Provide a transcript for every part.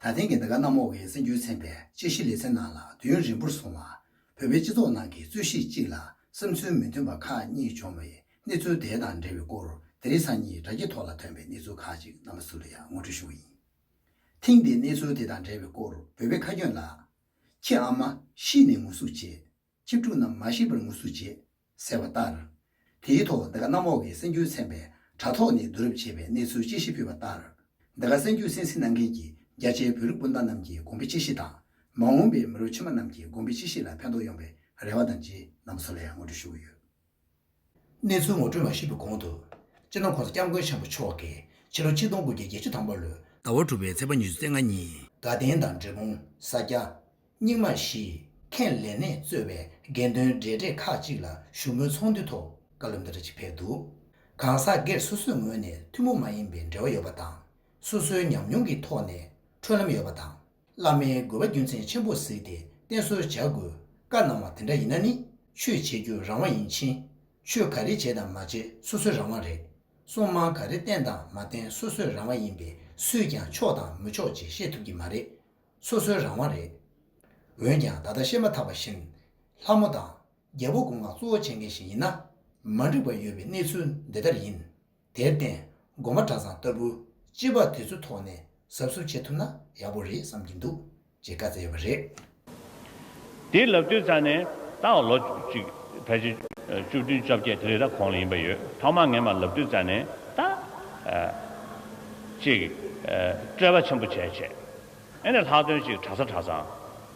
ད་ཐེངས་ཀྱི་འདི་ག་གནམ་འོག་གི་སྲིད་འགྱུར་ཚན་པའི་དཔྱད་གཞི་ལེ་ཚན་ནང་ལ་དུས་ཡུན་རིང་པོར་སོང་བ། བོད་པའི་སྤྱི་ཚོགས་ནང་གི་རྩོད་གཞི་གཅིག་ལ་བསམ་ཚུལ་མི་མཐུན་པ་ཁག་གཉིས་བྱུང་བའི་གནས་ཚུལ་དེ་དང་འབྲེལ་བའི་སྐོར་དེ་རིང་སང་ཉིད་དྲ་རྒྱའི་ཐོག་ལ་ཐོན་པའི་གནས་ཚུལ་ཁག་ཅིག་རྣམ་པ་ཚུར་ལ་ཡང་ངོ་སྤྲོད་ཞུ་བ་ཡིན། ཐེངས་འདིའི་གནས་ཚུལ་དེ་དང་འབྲེལ་བའི་སྐོར་བོད་པའི་ཁ་སྐྱོན་ལགས། ཁྱེད་ཨ་མ་ཤི་ནས་ངུ་ཟུག་བྱེད། གཅིག་དྲུག་རྣམས་མ་ཤེས་པར་ངུ་ཟུག་བྱེད། ཟེར་བ་ལྟར། དེའི་ཐོག་འདི་ག་གནམ་འོག་གི་སེམས་རྒྱུད་ཚན་པས་དྲ་ཐོག་ནས་བསྡུ་རུབ་བྱས་པའི་གནས་ཚུལ་དཔྱད་གཞི་ཕུལ་བ་ལྟར། འདི་ག་སེམས་རྒྱུད་སེམས་གཟིགས་གནང་མཁན་གྱི་རྒྱ་ཆེའི་བོད་རིགས་སྤུན་ཟླ་རྣམས་ཀྱི་གོང་འཕེལ་དཔྱད་གཞི་དང། མ་འོངས་པའི་མི་རབས་ཕྱི་མ་རྣམས་ཀྱི་གོང་འཕེལ་དཔྱད་གཞི་ལ་ཕན་ཐོགས་ཡོང་བའི་རེ་བ་དང་རྗེས་གནང་བཟོ་ལས་ངོ་སྤྲོད་ཞུ་གི་ཡོད། གནས་ཚུལ་ངོ་སྤྲོད་མ་ཤེས་པའི་གོང་དུ། སྤྱིར་ན་ཁོང་ས་སྐྱབས་མགོན་ཆེན་པོ་མཆོག་གིས་ཕྱི་ལོ་ཆིག་སྟོང་དགུ་བརྒྱ་བརྒྱད་ཅུ་དང་པོ་ལོའི། ཟླ་བ་དྲུག་པའི་ཚེས་པ་ཉི་ཚེ་ཚེས་ལྔ་ཉིན། དགའ་ལྡན་དང་འབྲས་སྤུངས་ས་སྐྱ། རྙིང་མ་བཞི། ཁེངས་ལེ་ནས་གཙོས་པའི་དགེ་འདུན་འབྲེལ་གྲས་ཁག་ཅིག་ལ་བཞུགས་མོལ་ཚོགས་འདུའི་ཐོག་བཀའ་སློབ་འདི་འདྲ་ཅིག་ཕེབས་འདུག་གང་ཟག་སྒེར་སོ་སོའི་ངོས་ནས་ཐུན་མོང་མ་ཡིན་པའི་འབྲེལ་བ་ཡོད་པ་དང། སོ་སོའི་ཉམས་མྱོང་གི་ཐོག་ནས་འཕྲོད་ལམ་ཡོད་པ་དང། བླ་མའི་དགོས་པ་རྒྱུ་མཚན་ཆེན་པོར་གཟིགས་ཏེ་བསྟེན་གསོལ་བྱ་དགོས། བཀའ་གནང་བ་དེ་འདྲ་ཡིན་ན་ནི་ཆོས་བྱེད་རྒྱུ་རང་དབང་ཡིན་ཕྱིན། ཆོས་ག་རེ་བྱེད་དང་མ་བྱེད་སོ་སོའི་རང་དབང་རེད། སྲུང་དམག་ག་རེ་བསྟེན་དང་མ་བསྟེན་སོ་སོའི་རང་དབང་ཡིན་པས་སུས་ཀྱང་ཆོག་དང་མི་ཆོག་ཅེས་བཤད་ཐུབ་ཀྱི་མ་རེད། སོ་སོའི་རང་དབང་རེད། འོན་ཀྱང་ད་ལྟ་བཤད་མ་ཐག་པ་བཞིན། ལྷ་མོ་དང། རྒྱལ་པོ་དགུང་ལ་གཙོ་བོ་བྱེད་མཁན་ཞིག་ཡིན་ན། མ་འགྲིག་པ་ཡོད་པའི་གནས་ཚུལ་འདི་ལྟར་ཡིན། དེར་བརྟེན་སྒོ་མ་གྲྭ་ཚང་ལྟ་བུ་སྤྱི་དཔའ་དེ་ཚོའི་ཐོག་ནས་ཟབ་ཟོབ་བྱེད་ཐུབ་ན་ཡག་པོ་རེད་བསམ་གྱི་འདུག་ཅེས་བཀའ་སྩལ་ཡོད་པ་རེད། དེའི་ལབ་དུས་ཚར་ནས་ད་བར་ལོ་གཅིག་ཕལ་ཆེར་བཅུ་བདུན་བཅོ་བརྒྱད་དེ་རེ་ར་གོང་ལ་ཡིན་པ་ཡོད་ཐོག་མ་ངས་མ་ལབ་དུས་ཚར་ནས་ད་ཅིག་བཀྲེས་པ་ཆེན་པོ་བྱས་བྱས་ཨེ་ནས་ལྷག་དོན་ཅིག་གྲྭ་ཚང་གྲྭ་ཚང།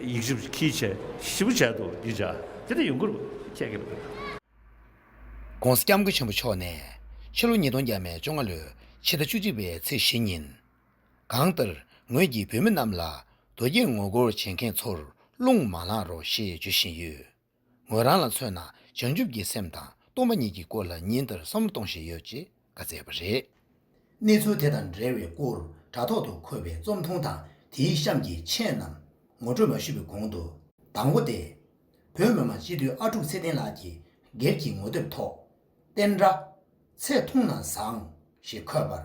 ཡིག་བཞི་བཅུ་གྱིས་བྱས། བཞི་བོ་བྱས་དུ་འདི་བྱ། དེ་ནས་ཡུངས་ཀར་བཅས་ཀྱི་བུ། ྋགོང་ས ྋསྐྱབས་མགོན་ཆེན་པོ་མཆོག་ནས། ཕྱི་ལོ་ཉིས་སྟོང་བརྒྱ་མའི་བཅོ་ལྔ་ལོའི་ཕྱི་ཟླ་བཅུ་གཅིག་པའི་ཚེས་བཞི་ཉིན། གང་ལྟར་ངོས་ཀྱིས་བོད་མི་རྣམས་ལ་རྡོ་རྗེས་ངོ་རྒོལ་བྱེད་མཁན་ཚོར་རླུང་མ་ལངས་རོགས་ཞེས་བརྗོད་བཞིན་ཡོད། ངོས་རང་ལ་མཚོན་ན་བྱང་ཆུབ་ཀྱི་སེམས་དང་སྟོང་པ་ཉིད་ཀྱི་སྐོར་ལ་ཉིན་ལྟར་བསམ་བློ་གཏོང་བཞིན་ཡོད་ཅེས་བཀའ་བསྩལ་བ་རེད། གནས་ཚུལ་དེ་དང་འབྲེལ་བའི་སྐོར་དྲ་ཐོག་ཏུ་འཁོད་པའི་རྩོམ་ཐུང་དང་དེའི་གཤམ་གྱི་མཆན་རྣམས་ངོ་སྤྲོད་མ་ཞུས་པའི་གོང་དུ། དང་བོ་སྟེ། བོད་མི་མང་སྤྱི་འཐུས་ཨ་ཀྲུག་ཚེ་བརྟན་ལགས་ཀྱིས་སྒེར་གྱི་ངོ་དེབ་ཐོག། བསྟན་དགྲ། ཚེ་ཐུང་ན་བཟང། ཞེས་འཁོད་པར།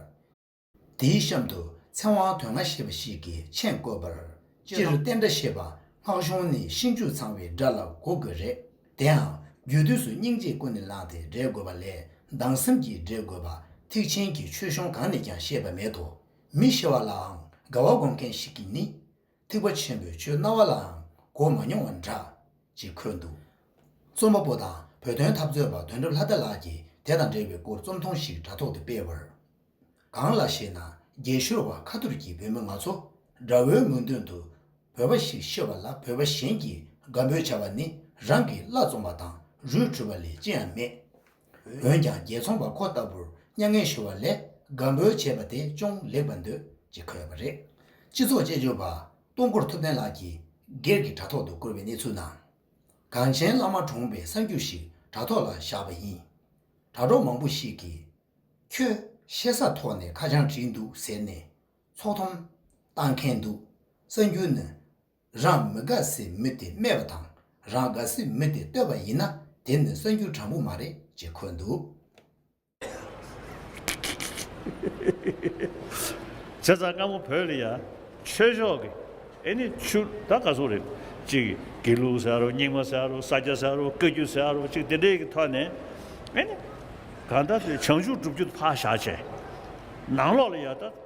དེའི་གཤམ་དུ་ཚེ་དབང་དོན་ལྔ་ཞེས་པ་ཞིག་གི་མཆན་བཀོད་པར། སྤྱིར་བསྟན་དགྲ་ཞེས་པ་སྔགས་གཞུང་ནས་ཤིང་ཆུ་ཚང་བའི་དགྲ་ལ་གོ་དགོས་རེད། དེའང་རྒྱུད་དུས་སུ་སྙིང་རྗེས་ཀུན་ནས་བསླངས་ཏེ་བསྒྲལ་དགོས་པ་ལས་སྡང་སེམས་ཀྱིས་བསྒྲལ་དགོས་པ་ཐེག་ཆེན་གྱི་ཆོས་གཞུང་གང་ནས་ཀྱང་བཤད་པ་མེད་དོ། མི་ཤེས་བ་ལའང་དགའ་བ་སྒོམ་མཁན་ཞིག་གིས་ནི། ཐེག་པ་ཆེན་པོའི་ཆོས་སྣང་བ་ལའང་གོ་མ་མྱོང་བ་འདྲ། ཅེས་འཁོད་འདུག་རྩོམ་པ་པོ་དང་བོད་དོན་འཐབ་རྩོད་པ་དོན་གྲུབ་ལྷ་རྡ་ལགས་ཀྱིས་དེ་དང་འབྲེལ་བའི་སྐོར་རྩོམ་ཐུང་ཞིག་དྲ་ཐོག་ཏུ་སྤེལ་བར། གང་ལགས་ཞེ་ན་རྒྱལ་ཤོར་བ་ཁ་ཐུར་གྱི་བོད་མི་ང་ཚོ་དགྲ་བོའི་མོས་འདུན་དུ་བོད་པ་ཞིག་ཤི་བ་ལ་བོད་པ་གཞན་གྱིས་དགའ་འབོད་བྱ་བ་ནི་རང་གི་བླ་བཙོང་བ་དང་རུས་འཁྲུ་བ་ལས་ཅི་ཡང་མེད། འོན་ཀྱང་རྒྱལ་འཚོང་པ་ཁོ་ལྟ་བུར་མྱ་ངན་ཞུ་བ་ལས་དགའ་འབོད་བྱེད་པ་དེ་ཅུང་ལེགས་པར་འདོད་ཅེས་འཁོད་པ་རེད། སྤྱི་ཚོགས་དཔྱད་བརྗོད་པ་སྟོང་སྐོར་ཐུབ་བསྟན་ལགས་ཀྱིས་སྒེར་གྱི་དྲ་ཐོག་ཏུ་བཀོད་པའི་གནས་ཚུལ་ནང། གངས་ཅན་བླ་མ་གྲོངས་པའི་གསར་འགྱུར་ཞིག་དྲ་ཐོག་ལ་བཞག་པ་ཡིན། དྲ་གྲོགས་མང་པོ་ཞིག་གིས། ཁྱོད། ཤེས་སར་ཐོག་ནས་ཁ་བྱང་བྲིས་འདུག་ཟེར་ནས། ཚོགས་འཐོམ། བཏང་མཁན་འདུག་གསར་འགྱུར་ནི། རང་མི་དགའ་སའི་མི་དེ་སྨད་པ་དང་རང་དགའ་སའི་མི་དེ་བསྟོད་པ་ཡིན་ན་དེ་ནི་གསར་འགྱུར་དྲང་པོ་མ་རེད་ཅེས་འཁོད་འདུག། བྱས་ཙང་སྔ་མོ་བོད་ལ་ཡ། ཆོས་ཕྱོགས་ཀྱི། ཨེ་ནི་ཆུ། ད་ག་སོག་རེད། ཅིག་གི། དགེ་ལུགས་ཟེར་ཡ་རོ་རྙིང་མ་ཟེར་ཡ་རོ་ས་སྐྱ་ཟེར་ཡ་རོ་བཀའ་རྒྱུད་ཟེར་ཡ་རོ་ཅིག་དེ་འདྲའི་གི་ཐོག་ནས། ཨེ་ནི། གང་ལྟར་དེ་བྱང་ཆུབ་སྒྲུབ་རྒྱུ་དུ་ཕག་བཞག་བྱས། ནང་ལོགས་ལ་ཡ་ད།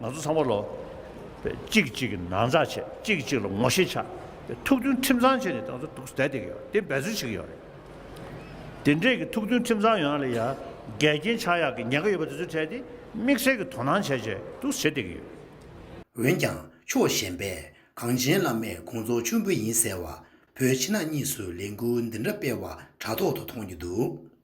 ང་ཚོ་ཚང་མ་ལོ། གཅིག་གིས་གཅིག་གི་ན་ཚ་བྱེད་གཅིག་གིས་གཅིག་ལ་ངོ་ཤེས་ཆགས། ཐུགས་མཐུན་ཁྲིམས་གཙང་བྱས་ནས་ང་ཚོ་འདུག་བསྡད་དེ་གི་ཡོད་དེ་འབད་རྩོལ་བྱེད་ཀྱི་ཡོད་རེད། དེ་འདྲས་ཀྱི་ཐུགས་མཐུན་ཁྲིམས་གཙང་ཡོང་ན་ལ་ཡ། འགལ་རྐྱེན་ཆགས་ཡག་གི་ཉེན་ཁ་ཡོད་པ་དེ་ཚོ་འཕྲད་དེ་དམིགས་བསལ་གྱི་དོ་སྣང་བྱས་རྗེས་འདུག་བྱེད་བསྡད་ཀྱི་ཡོད། འོན་ཀྱང་ཕྱོགས་གཞན་པས་གངས་ཅན་བླ་མས་ཁོང་ཚོ་མཆོད་འབུལ་ཡིན་ཟེར་བ། བོད་ཕྱི་ནང་གཉིས་སུ་ལས་འགུལ་འདི་འདྲ་སྤེལ་བ་དྲ་ཐོག་ཏུ་མཐོང་རྒྱུ་འདུག།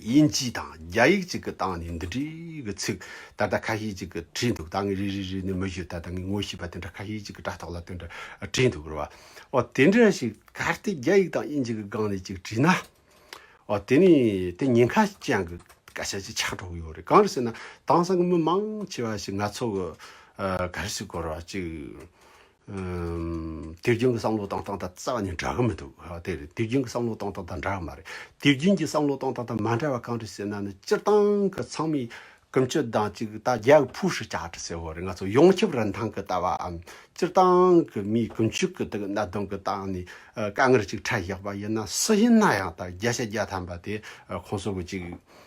དབྱིན་ཇི་དང་རྒྱ་ཡིག་ཅིག་གི་སྟེང་ནས་འདི་འདྲའི་གི་ཚིག་ད་ལྟ་ཁ་ཤས་ཅིག་གི་བྲིས་འདུག་ད་ངས་རེ་རེ་རེ་ནས་མི་གཞོལ་ད་ལྟ་ངས་ངོ་ཤེས་པ་དེ་འདྲ་ཁ་ཤས་ཅིག་གི་དྲ་ཐོག་ལ་དེ་འདྲ་བྲིས་འདུག་རེད་བ། འོ་དེ་འདྲ་ཞིག་ག་ལྟེ་རྒྱ་ཡིག་དང་དབྱིན་ཇི་གི་སྒང་ནས་ཅིག་བྲིས་ན། འོ་དེ་ནས་དེ་ཉེན་ཁ་ཅན་གི་སྐད་ཆ་ཅིག་ཆགས་འགྲོ་གི་ཡོད་རེད་གང་རེད་ཟེར་ན་དེང་སང་གི་མི་མང་ཆེ་བ་ཞིག་ང་ཚོ་གི་ག་རེ་ཞིག་གོ་རེ་བ་ཅིག་དུས་རྒྱུན་གྱི་བསམ་བློ་བཏང་སྟངས་དང་རྩ་བ་ནས་འདྲ་གི་མི་འདུག་དེ་རེད་དུས་རྒྱུན་གྱི་བསམ་བློ་བཏང་སྟངས་དང་འདྲ་གི་མ་རེད་དུས་རྒྱུན་གྱི་བསམ་བློ་བཏང་སྟངས་དང་མ་འདྲ་བ་གང་རེད་ཟེར་ན་ནི་སྤྱིར་བཏང་གི་ཚང་མས་ཀུན་སྤྱོད་དང་གཅིག་ད་རྒྱ་གི་ཕུའུ་ཧྲི་ཅཱ་ཏི་ཟེར་བ་རེད་ང་ཚོ་ཡོངས་ཁྱབ་རིན་ཐང་གི་ལྟ་བའམ་སྤྱིར་བཏང་གི་མིའི་ཀུན་སྤྱོད་ཀྱི་དེ་གི་གནད་དོན་གྱི་སྟངས་ནས་དཀའ་ངལ་ཅིག་འཕྲད་བཞག་པ་ཡིན་ན་སུ་ཡིན་ན་ཡང་ད་རྒྱ་ཆ་རྒྱ་ཐམ་པ་དེ་ཁོང་ཚོ་གི་ཅིག་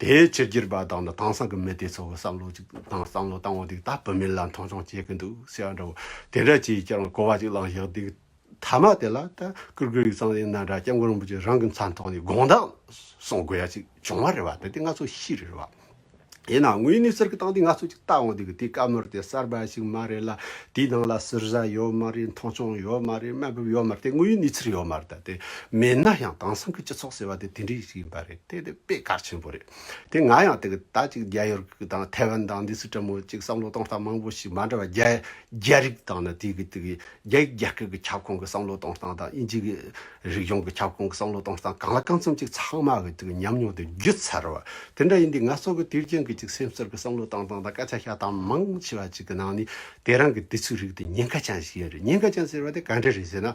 དེའི་ཕྱིར་སྒྱུར་པ་དང་དྭངས་སང་གི་མི་དེ་ཚོ་བསམ་བློ་གཅིག་དང་བསམ་བློ་བཏང་བ་འདུག་ད་བུད་མེད་ལ་མཐོང་ཆུང་བྱེད་གི་འདུག་ཟེར་བ་འདྲ་བོ་དེ་འདྲ་བྱས་ཀྱང་གོ་བ་གཅིག་བླངས་ཞག་དུས་ཐ་མ་དེ་ལ་ད་ཀུར་ཀུར་ཡིག་ཚང་ཡིན་ན་འདྲ་སྐྱབས་མགོན་རིན་པོ་ཆེ་རང་གི་མཚན་ཐོག་ནས་དགོངས་དག་གསུང་དགོས་ཡ་ཅིག་བྱུང་བ་རེད་བ་དེ་དེ་ང་ཚོ་ཤི་རེད་བ། ཡིན་ནའང་དངོས་ནས་ཟུར་གི་སྟངས་དེ་ང་ཚོ་གཅིག་ལྟ་འོང་འདུག་དེ་བཀའ་མོལ་དེ་གསར་པ་ཞིག་མ་རེད་ལ་དེའི་ནང་ལ་ཟུར་བཟའ་ཡོད་མ་རེད་མཐོང་ཆུང་ཡོད་མ་རེད་དམའ་འབེབས་ཡོད་མ་རེད་དེ་དངོས་ཡོད་གནས་ཚུལ་ཡོད་མ་རེད་ད་དེ་མེད་ན་ཡང་དྭངས་སང་གི་སྤྱི་ཚོགས་ཟེར་བ་དེ་དེ་འདྲའི་ཞིག་ཡིན་པ་རེད། དེ་དེ་དཔེ་དཀར་ཆེན་པོ་རེད། དེ་ང་ཡང་དེ་ད་ཅིག་རྒྱ་ཡོར་གི་དང་ཐའེ་ཝན་དང་འདི་སུ་ཀྲ་མོ་ཅིག་བསམ་བློ་གཏོང་སྟངས་མང་པོ་ཞིག་མ་འདྲ་བ་རྒྱ་རྒྱ་རིགས་དང་ནི་དེ་གི་དེ་གི་རྒྱ་ཡིག་རྒྱ་སྐད་གི་ཁྱབ་ཁོངས་གི་བསམ་བློ་གཏོང་སྟངས་དང་དབྱིན་ཇི་གི་རིག་གཞུང་གི་ཁྱབ་ཁོངས་གི་བསམ་བློ་གཏོང་སྟངས་གང་ལ་གང་འཚམ་ཅིག་ཚང་མ་གི་དེ་གི་ཉམས་མྱོང་དེ་བརྒྱུད་ཚར་བ་དེ་འདྲ་ཡིན་དུས་ང་ཚོ་གི་དུས་རྒྱུན་གི་ཅིག་སེམས་གསར་གི་བསམ་བློ་གཏང་སྟངས་དང་སྐད་ཆ་བཤད་སྟངས་མང་ཆེ་བ་ཅིག་གི་ནང་ནི་དེ་རང་གི་དེ་ཚོའི་རིགས་དེ་ཉེན་ཁ་ཅན་ཞིག་ཡིན་རེད་ཉེན་ཁ་ཅན་ཟེར་བ་དེ་ག་འདྲ་རེད་ཟེར་ན།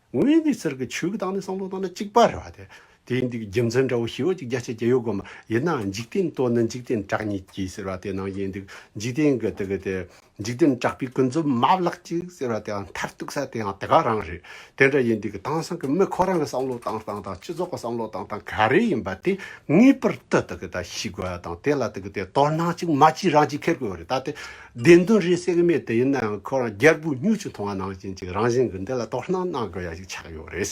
ངོས་འདི་ཟེར་གི་ཆོས་ཀྱི་བདག་ནི་སངས་རྡོ་དང་ནི་གཅིག་པར་རེད་བ། དེའི་འདི་རྒྱུ་མཚན་འདྲ་བོ་ཞི་བ་ཅིག་རྒྱ་ཆེ་རྒྱ་ཡོད་དགོས་མ་ཡིན་ན་འཇིག་རྟེན་ལྟོ་ནི་འཇིག་རྟེན་གྲགས་ཉིད་ཀྱིས་ཟེར་བ་དེ་ནང་བཞིན་འདུག་འཇིག་རྟེན་གྱི་དེ་གི་དེ་འཇིག་རྟེན་གྲགས་པའི་ཀུན་རྫོབ་མ་བརླག་ཅིག་ཟེར་བ་དེའང་མཐར་གཏུགས་ས་དེའང་དེ་ག་རང་རེད་དེ་འདྲ་ཡིན་དུས་ཀྱི་དེང་སང་གི་མི་ཁོ་རང་གི་བསམ་བློ་བཏང་སྟངས་དང་སྤྱི་ཚོགས་ཀྱི་བསམ་བློ་བཏང་སྟངས་ག་རེ་ཡིན་པ་དེ་ངེས་པར་དུ་དེ་གི་ད་ཤེས་དགོས་བ་དང་དེ་ལ་དེ་གི་དེ་དོར་སྣང་ཅིག་མ་ཅིག་རང་གཅིག་འཁེལ་དགོས་བ་རེད་ད་དེ་བདེན་དོན་རེད་སེམས་མེད་དེ་ཡིན་ནའང་ཁོ་རང་རྒྱལ་པོའི་སྨྱུག་ཆུང་མཐོང་བ་ནང་བཞིན་གཅིག་རང་བཞིན་གྱི་འདི་ལ་དོ་སྣང་གནང་དགོས་ཡ་ཞིག་ཆགས་ཡོད་རེད།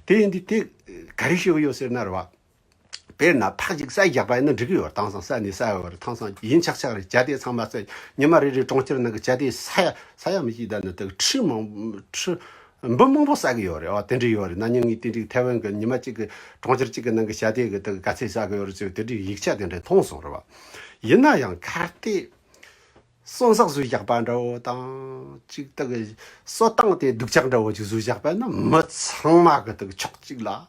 དེ་ཡིན་དུས་དེ་ག་རེ་ཤེས་ཀྱི་ཡོད་ཟེར་ན་རེ་བ། དཔེར་ན་ཕག་ཅིག་ས་ཡི་རྒྱག་པ་ཡིན་ན་འགྲིག་གི་ཡོད་དེང་སང་ས་ནས་ས་ཡི་བར་ཐང་སང་ཡིན་ཆག་ཆག་རེད་བྱ་དེ་ཚང་མ་ཚེ་ཉི་མ་རེ་རེའི་གྲོང་ཁྱེར་ནང་གི་བྱ་དེ་ས་ཡ་ས་ཡ་མི་གཅིག་དང་ནི་དེ་གི་ཁྲི་མང་ཁྲི་འབུ་མང་པོ་བསགས་ཀྱི་ཡོད་རེད་ཨོ་དེ་འདྲ་ཡོད་རེད་ན་ཉིན་གཉིས་ཏིག་ཏིག་ཐེ་ཝན་གྱི་ཉི་མ་གཅིག་གི་གྲོང་ཁྱེར་གཅིག་གི་ནང་གི་ཞྭ་དེ་གི་དེ་གི་ག་ཚད་བསགས་ཀྱི་ཡོད་རེད་ཅེས་དེ་འདྲའི་ཡིག་ཆ་དེ་འདྲ་མཐོང་སོང་རེད་བ། ཡིན་ན་ཡང་གར་སྟེགས་སོ་འཛག་བཟོས་བཞག་པ་འདྲ་བོ་དང་གཅིག་དེ་གི་སོ་བཏང་སྟེ་སྡུག་ཅག་འདྲ་བོ་ཅིག་བཟོས་བཞག་པས་ན་མི་ཚང་མ་གི་དེ་གི་ཕྱོགས་གཅིག་ལ།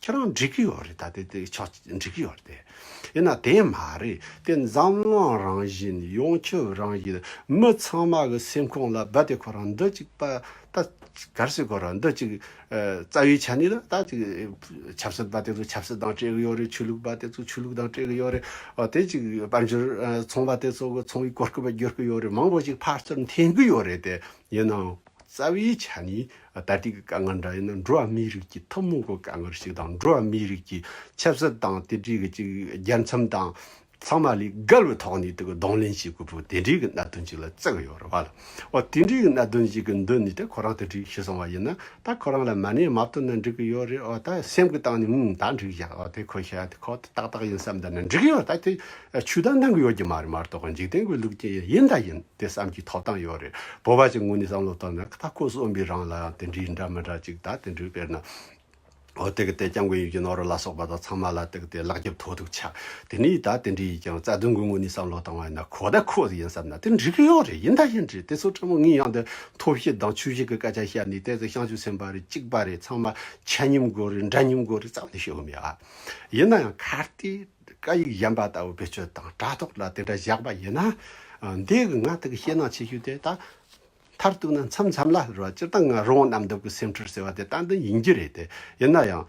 ཁྱེད་རང་འགྲིག་གི་ཡོད་རེད་ད་དེ་དེ་ཆོག་འགྲིག་གི་ཡོད་དེ། ཡིན་ན་དེ་མ་རེད་དེ་འཛམ་གླིང་རང་བཞིན་ཡོངས་ཁྱབ་རང་བཞིན་མི་ཚང་མ་གི་སེམས་ཁོང་ལ་རྦད་དེ་ཁོ་རང་འདི་གཅིག་པ་ད་གལ་སྲིད་ཁོ་རང་འདི་གཅིག་རྩ་བའི་ཆ་ནས་ན་ད་གཅིག་ཆབ་སྲིད་པ་དེ་ཚོ་ཆབ་སྲིད་དང་སྤྲད་གི་ཡོད་རེད་ཆོས་ལུགས་པ་དེ་ཚོ་ཆོས་ལུགས་དང་སྤྲད་གི་ཡོད་རེད་དེ་གཅིག་དཔལ་འབྱོར་ཚོང་པ་དེ་ཚོ་གི་ཚོང་གི་གོ་སྐབས་བརྒྱུར་གི་ཡོད་རེད་མང་པོ་ཞིག་ཕར་ཚུར་འཐེན་གི་ཡོད་རེད་དེ་ཡིན་ནའང། རྩ་བའི་ཆ་ནས་ད་ལྟའི་དཀའ་ངལ་འདྲ་ཡིན་ན་འགྲོ་བ་མིའི་རིགས་ཀྱི་ཐུན་མོང་གི་དཀའ་ངལ་ཞིག་དང་འགྲོ་བ་མིའི་རིགས་ཀྱི་ཆབ་སྲིད་དང་དེ་འབྲེལ་གྱི་རྒྱལ་མཚམས་དང་ཚང་མ་ལས་འགལ་བའི་ཐོག་ནས་དེ་ག་གདོང་ལེན་བྱེད་དགོས་པའི་དེ་འདྲའི་གི་གནད་དོན་ཅིག་ལ་བརྩི་གི་ཡོད་རེད་བ་ལ། འོ་དེ་འདྲའི་གི་གནད་དོན་ཞིག་གི་མདུན་ནས་ད་ཁོ་རང་དེ་འདྲའི་བྱེད་སོང་བ་ཡིན་ན་ད་ཁོ་རང་ལ་མ་ནས་མ་བཏོན་ན་འགྲིག་གི་ཡོད་རེད་འོ་ད་སེམས་གི་སྟངས་ནས་ངུ་ད་འགྲིག་བཞག་འོ་དེ་ཁོ་ཤ་ཁོ་ཏག་ཏག་ཡིན་བསམ་ད་ན་འགྲིག་གི་ཡོད་ད་དེ་ཆུ་ད་འདང་གི་ཡོད་ཀྱི་མ་རེད་མ་གཏོགས་འཇིག་རྟེན་གི་ལུགས་ཀྱི་ཡིན་ད་ཡིན། དེ་བསམ་གྱི་ཐོབ་ཐང་ཡོད་རེད། བོད་པ་ཞིག་ངོས་ནས་བསམ་བློ་བཏང་ན་ད་ཁོས་གསུངས་པའི་རང་ལའང་དེ་འདྲའི་འདྲ་མི་འདྲ་ཅིག་ད་དེ་འདྲའི་དཔེར་ན། ཨོ་དེ་གི་དེ་སྐྱབས་མགོན་ཡུལ་གྱི་ནོར་རུ་ལ་སོགས་པ་དང་ཚང་མ་ལ་དེ་གི་དེ་ལག་རྒྱབ་ཐོག་ཐུག་ཆ། དེ་ནས་ད་དེ་འདྲའི་ཡིན་ཀྱང་རྩ་དོན་གྱི་ངོས་ནས་བསམ་བློ་བཏང་བ་ཡིན་ན་ཁོ་ད་ཁོ་ཡིན་བསམ་ན་དེ་འགྲིག་གི་ཡོད་རེད་ཡིན་ད་ཡིན་རེད་དེ་ཚོ་ཕྲ་མོ་ངའི་ཡང་དེ་ཐོབ་ཤེས་དང་ཆོས་ཤེས་གི་སྐད་ཆ་བཤད་ནས་དེ་ཚོ་བཤང་ཆུ་ཚན་པ་རེད་གཅིག་པ་རེད་ཚང་མ་ཆ་སྙོམས་དགོས་རེད་འདྲ་སྙོམས་དགོས་རེད་བསམ་ནས་བཤད་གི་མེད་ཡིན་ན་ཡང་གལ་ཏེ། བཀའ་ཡིག་གཞན་པ་ལྟ་བུ་བེད་སྤྱོད་དང་དྲ་ཐོག་ལ་དེ་འདྲ་བཞག་པ་ཡིན་ན། འདས་ཀྱི་ང་ཐག་གི་ཤེས་ནང་ཆེ་ཤོས་དེ་དག་མཐར་གཏུགས་ན་མཚམས་མཚམས་ལ་ལར་བ་སྤྱིར་བཏང་ང་རང་རྣམས་འདོད་པའི་སེམས་ཁྲེལ་ཟེར་བ་དེ་ཏན་ཏན་ཡིན་གྱི་རེད་དེ། ཡིན་ན་ཡང།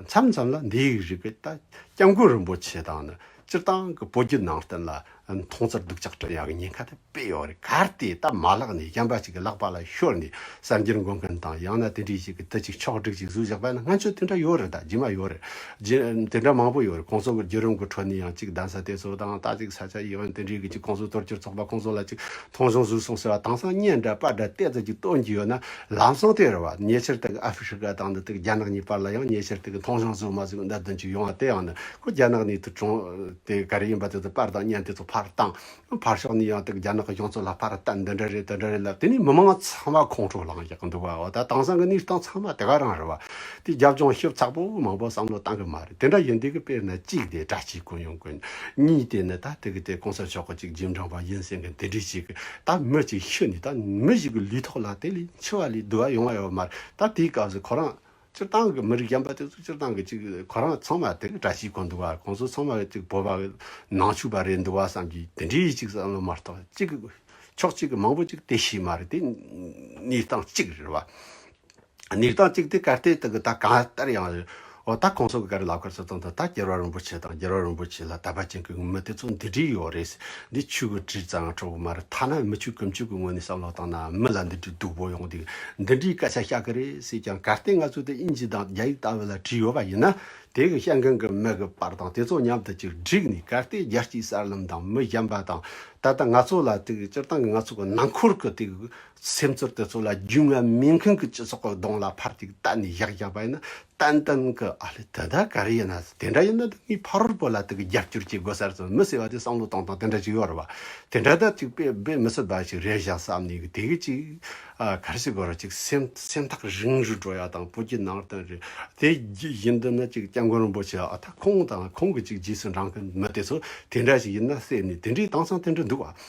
མཚམས་མཚམས་ལ་འདས་ཡིག་རིག་པའི་ལྟ་སྐྱབས་མགོན་རིན་པོ་ཆེ་དང་ནི་སྤྱིར་བཏང་གི་བོད་བརྒྱུད་ནང་བསྟན་ལ་མཐོང་ཚར་འདུག་ཅག་སྤྲེལ་ཡག་ཉེན་ཁ་དེ་དཔེ་ཡོད་རེད་ག་དེ་ད་མ་བཀླགས་ནས་གཞན་པ་ཞིག་གི་ལག་པ་ལ་ཤོར་ནས་གསར་འགྱུར་འགོད་མཁན་དང་ཡང་ན་དེ་འདྲའི་ཞིག་གི་དུ་ཅིག་ཕྱོགས་བསྒྲིགས་ཀྱིས་གཟུགས་བཞག་པ་ན་ང་ཚོས་དེ་འདྲ་ཡོད་རེད་ད་རྗེས་མ་ཡོད་རེད་དེ་འདྲ་མང་པོ་ཡོད་རེད་ཁོང་ཚོ་གི་བརྒྱུད་རིམ་གི་ཁྲོད་ནས་ཡང་ཅིག་གདན་ས་དེ་ཚོ་དང་རྟ་ཚིག་ས་ཆ་ཡིན་འོན་དེ་འདྲའི་གི་ཅིག་ཁོང་ཚོ་གཏོར་གྱུར་ཚོགས་པ་ཁོང་ཚོ་ལ་ཅིག་མཐོང་ཆུང་བཟོས་སོང་ཟེར་བ་དྭངས་སང་བརྙན་འདྲ་པར་འདྲ་བལྟས་ཙམ་ཅིག་སྟོན་གྱི་ཡོད་ན་ལམ་སང་དེ་རེད་བ་ཉེ་ཆར་དག་གི་ཨ་ཧྥི་ཧྲི་ཀ་དང་འདི་དག་རྒྱ་ནག་གཉིས་བར་ལ་ཡང་ཉེ་ཆར་དག་གི་མཐོང་ཆུང་བཟོས་མ་བཟོས་གི་མནའ་དོན་ཅིག་ཡོང་བ་དེ་ཡང་ནི་ཁོ་རྒྱ་ནག་ནས་དུ་བྱུང། དེ་ག་རེ་ཡིན་པ་དེ་ཚོ་པར་དང་བརྙན་དེ་ཚོ་ཕར་བཏང། ཕར་ཕྱོགས་ནས་ཡང་དེ་རྒྱ་ནག་གི་གཞུང་ཚོགས་ལ་ཕར་བལྟ་འདི་འདྲ་རེད་དེ་འདྲ་རེད་ལབ་དེ་ནས་མི་མང་ཚང་མ་ཁོང་ཁྲོ་ལངས་ཀྱི་འདུག་བ་ད་དེང་སང་གི་གནས་སྟངས་ཚང་མ་དེ་ག་རང་རེད་བ། དེ་རྒྱབ་ལྗོངས་ཞིབ་ཚགས་པོ་མང་པོ་བསམ་བློ་བཏང་གི་མ་རེད་དེ་འདྲ་ཡིན་དེ་གི་དཔེར་ན་གཅིག་དེ་དྲ་སྤྱིའི་ཀུན་ཡོང་ཀུན། གཉིས་དེ་ནི་ད་དེ་གི་དེ་གོང་ས་མཆོག་གི་ཅིག་རྗེས་འབྲང་བ་ཡིན་སེང་གི་དེ་འདྲས་ཞིག་ད་མི་ཅིག་ཤི་ནས་ད་མི་ཞིག་གི་ལུས་ཐོག་ལ་དེ་ལས་འཆི་བ་ལས་བསྡུ་བ་ཡོང་བ་ཡོད་མ་རེད་ད་དེའི་སྐབས་སུ་ཁོ་རང་སྤྱིར་བཏང་གི་མི་རིགས་གཞན་པ་དེ་ཚོ་སྤྱིར་བཏང་གི་ཅིག་གོ་རང་ཚང་མ་དེ་གི་བཀྲ་ཤིས་གོ་འདུག་བ་གོང་ཚོ་ཚང་མ་ཅིག་བོད་པ་ནང་ཆུག་པ་རེད་འདུག་བ་བསམ་གི་དེ་འདྲའི་ཅིག་བསམ་བློ་མ་རྟོག་ཅིག་ཕྱོགས་གཅིག་གི་མང་པོ་ཅིག་དེ་ཤེས་མ་རེད་དེ་གནས་སྟངས་ཅིག་རེད་བ། གནས་སྟངས་ཅིག་དེ་གར་བལྟས་དང་གི་ད་གང་ལྟར་ཡང་རེད་བ་ད་གོང་ཚོ་གི་གར་ལབ་གར་ཚོ་བཏང་དང་ད་རྒྱལ་བ་རིན་པོ་ཆེ་དང་རྒྱལ་བ་རིན་པོ་ཆེ་ལ་དད་པ་ཅན་གི་མི་དེ་ཚོ་འདི་འདྲའི་ཡོད་རེད། འདི་ཆོས་གོས་བྲིས་ཙང་གྲོགས་པོ་མ་རེད་ཐ་ན་མི་ཆོས་ཀུན་ཆོས་ཀྱི་ངོས་ནས་བསམ་བློ་བཏང་ན་མི་ལ་འདི་འདྲའི་སྡུག་པོ་ཡོང་འདུག་འདི་འདྲའི་སྐད་ཆ་བཤད་གི་རེད་ཟེར་ཀྱང་གལ་ཏེ་ང་ཚོ་དེ་དབྱིན་ཇི་དང་རྒྱ་ཡིག་ལྟ་བུ་ལ་བྲིས་ཡོད་པ་ཡིན་ན་དེ་གི་བཤད་མཁན་གི་མི་གི་པར་དང་དེ་ཚོ་མཉམ་དུ་གཅིག་བསྒྲིགས་ནས་གལ་ཏེ་རྒྱལ་སྤྱིའི་གསར་ལམ་དང་མི་གཞན་པ་དང་ད་ལྟ་ང་ཚོ་ལ་དེ་གི་སྤྱིར་བཏང་གི་ང་ཚོ་གི་ནང་འཁོར་གི་དེ་གི་སེམས་ཚོར་དེ་ཚོ་ལ་རྒྱུས་མངའ་མིན་མཁན་གྱི་སྤྱི་ཚོགས་ཀྱི་གདོང་ལ་ཕར་ཐིག་བཏགས་ནས་བཞག་བཞག་པ་ཡིན་ན་ཏན་ཏན་གྱི་ཨ་ལེ་དེ་འདྲ་ག་རེ་ཡིན་ན་དེ་འདྲ་ཡིན་ན་དེ་ངའི་ཕ་རོལ་པོ་ལ་དེ་གི་རྒྱབ་སྐྱོར་བྱེད་དགོས་ས་རེད་མི་ཟེར་བ་དེ་བསམ་བློ་བཏང་བཏང་དེ་འདྲ་ཅིག་ཡོད་རེད་བ། དེ་འདྲ་ད་ཅིག་པས་པས་མི་ཚེ་འབའ་ཞིག་རེད་བཞག་བསམ་ནས་དེ་གི་ཅིག་ག་རེ་བྱེད་དགོས་རེད་ཅིག་སེམས་སེམས་ཐག་རིང་རུ་འགྲོ་ཡག་དང་བོ་གྱི་ནང་དོན་རེད་དེ་བཞིན་དུ་ན་ཅིག་སྐྱབས་མགོན་རིན་པོ་ཆེ་ད་ཁོང་དང་ཁོང་གི་ཅིག་རྗེས་སུ་འབྲང་མཁན་མི་དེ་ཚོ་དེ་འདྲ་ཞིག་ཡིན་ན་བསད་ནས་དེ་འདྲའི་དྭངས་གཙང་དེ་འདྲ་འདུག་བ།